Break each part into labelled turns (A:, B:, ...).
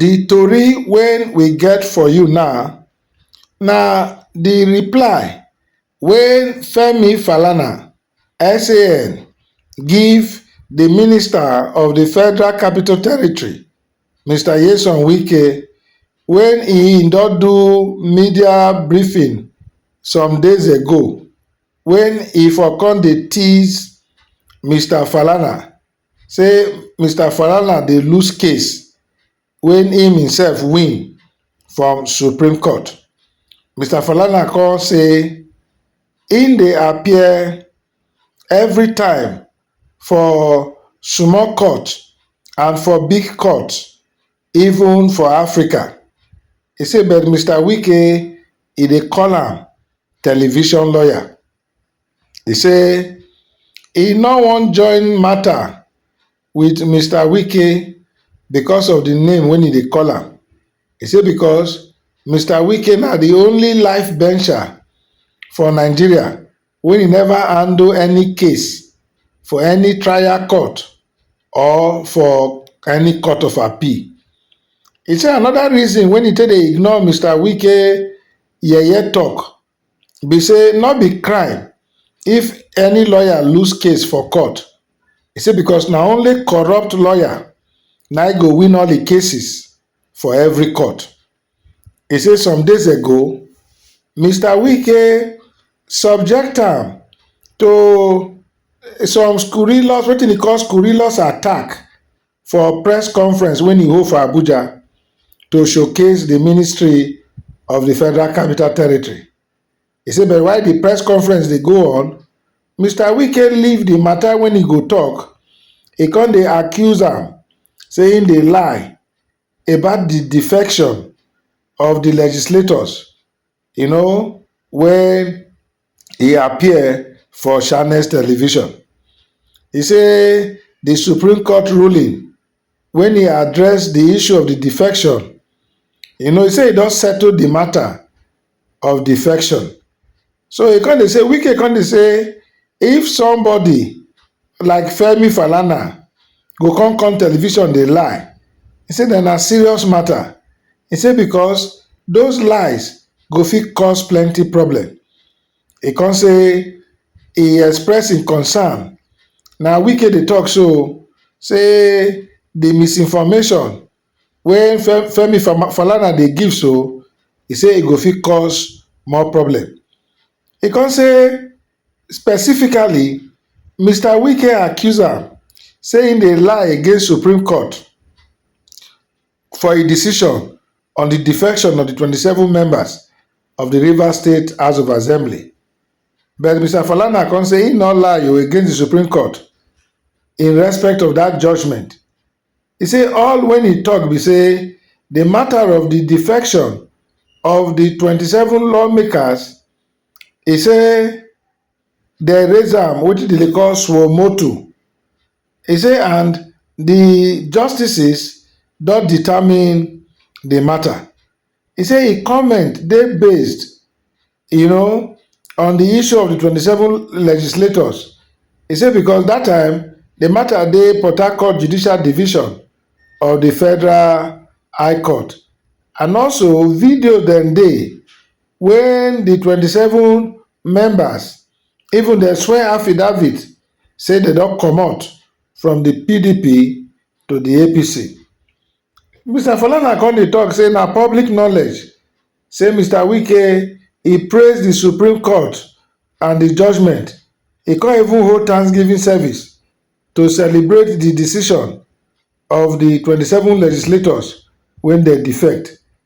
A: Di tori wey we get for you now na di reply wey Femi Falana, SAN, give di Minister of di Federal Capital Territory, Mister Nyesom Wike wen e don do media briefing some days ago wen e for come dey tease Mister Falana. say mr falana dey lose case wey im imsef win from supreme court mr falana kon say im dey appear evri time for small court and for big court even for africa e say but mr wike e dey call am television lawyer He say he no wan join matter with Mister Wike because of the name wey he dey call am. He say because Mister Wike na the only life bencher for Nigeria wey he never handle any case for any trial court or for any court of appeal. He say another reason wey he take dey ignore Mister Wike yeye talk be say no be crime if any lawyer lose case for court, e say because na only corrupt lawyer na im go win all the cases for every court. E say some days ago, Mister Wike subject am to some scurrilous wetin e call scurrilous attack For press conference wey e hold for Abuja to showcase di ministry of di Federal Capital Territory, e say but while di press conference dey go on, Mister Wike leave di mata wey e go tok, e come dey accuse am say im dey lie about di defection of di legislators you know wey e appear for channels television e say di supreme court ruling wen e address di issue of di defection e know say e don settle di matter of defection so e come dey say wike come dey say if somebody like femi falana go come come television dey lie e say dem na serious mata e say becos those lies go fit cause plenty problem e come say e express im concern na wike dey tok so say di misinformation wey femi falana dey give so e say e go fit cause more problem e come say Specifically, Mister Wike accuse am say im dey lie against Supreme Court for a decision on di defection of di twenty seven members of di Rivers State House of Assembly. But Mister Falana come say im no lie o against di Supreme Court in respect of dat judgement. E say all wen e tok be say di matter of di defection of di twenty seven lawmakers He say dem raise am wetin dem dey call suo motu. He say and di justices don determine di mata. He say im comment dey based you know on di issue of di twenty seven legislators. He say because dat time di mata dey Port Harcourt Judicial Division of di Federal High Court and also videos dem dey wen di twenty seven members even dem swear affidavit say dem don comot from di pdp to di apc. Mister Falana come dey tok say na public knowledge say Mister Wike e praise di Supreme Court and di judgement, e come even hold thanksgiving service to celebrate di decision of di twenty seven legislators wey dem defect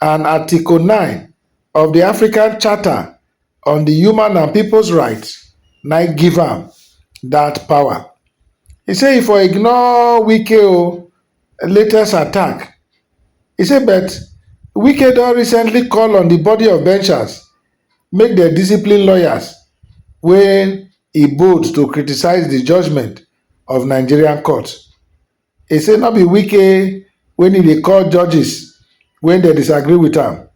A: and Article 9 of di African Charter on di Human and Peoples Rights na im give am dat power. E say e for ignore Wike o latest attack. E say but Wike don recently call on di body of benchers make dem discipline lawyers wey e bold to criticise di judgement of Nigerian court. He say no be Wike wey need dey call judges when dem disagree with am,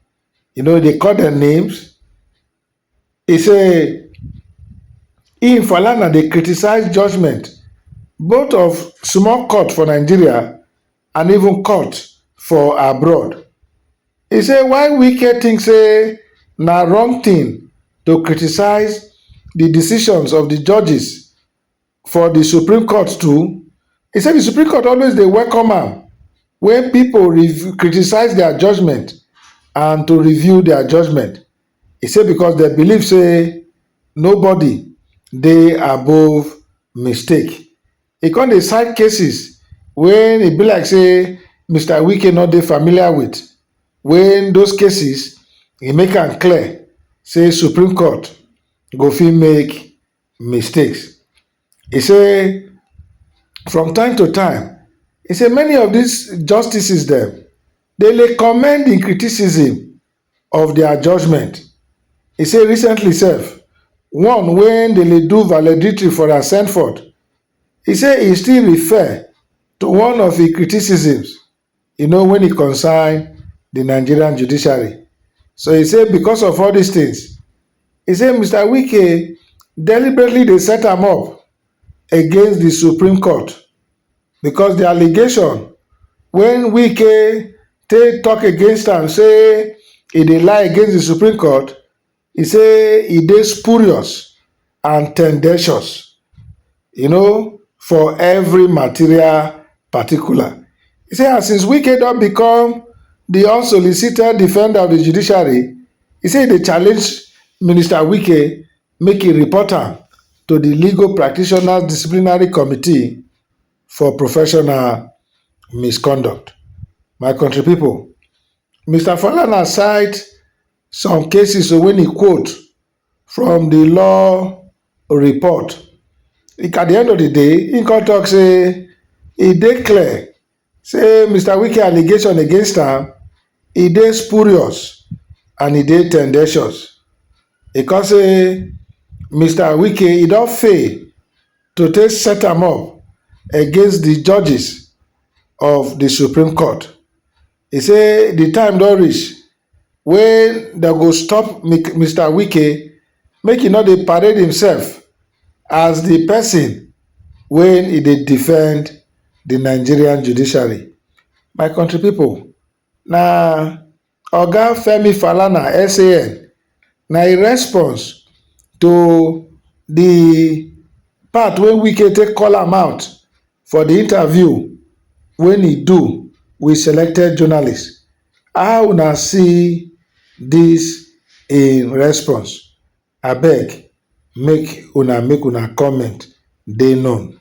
A: you know, he dey call dem names. He say im, Falana, dey criticize judgement both of small court for Nigeria and even court for abroad. He say why Wike think say na wrong thing to criticize di decisions of di judges for di supreme court too e say di supreme court always dey welcome am wen pipo criticise dia judgement and to review dia judgement e say becos dem believe say nobody dey above mistake e come dey cite cases wey e be like say Mister Wike no dey familiar wit wen those cases e make am clear say supreme court go fit make mistakes. E say from time to time, e say many of dis justices dem dey lay commend in criticism of dia judgement. E say recently sef, one wen dey lay do valedictory for Ascendford, e say e still refer to one of im criticisms. you know, wen e concern di Nigerian judiciary. So e say because of all dis tins, e say Mister Wike deliberately dey set am up against di Supreme Court because di allegation wey Wike take tok against am say e dey lie against di Supreme Court e say e dey spurious and ten dentious um for evri material particular. E say as since Wike don become di unsolicited defender of di judiciary, e say e dey challenge Minister Wike make e report am to di Legal Practitioners Disciplinary Committee for professional misconduct. My kontri pipo, Mister Falana cite Some cases wey he quote from the law report, at the end of the day, he come talk say e dey clear say Mister Wike allegation against am, e dey spurious and e dey tendentious. He come say Mister Wike e don fail to take set am up against the judges of the Supreme Court. He say the time don reach wey dem go stop Mister Wike make he no dey parade himself as the person wey he dey defend the Nigerian judiciary. My country people, na Oga Femi Falana, SAN, na im response to the part wey Wike take call am out for the interview wey he do with selected journalists How una see this im response? Abeg make una make una comment dey known.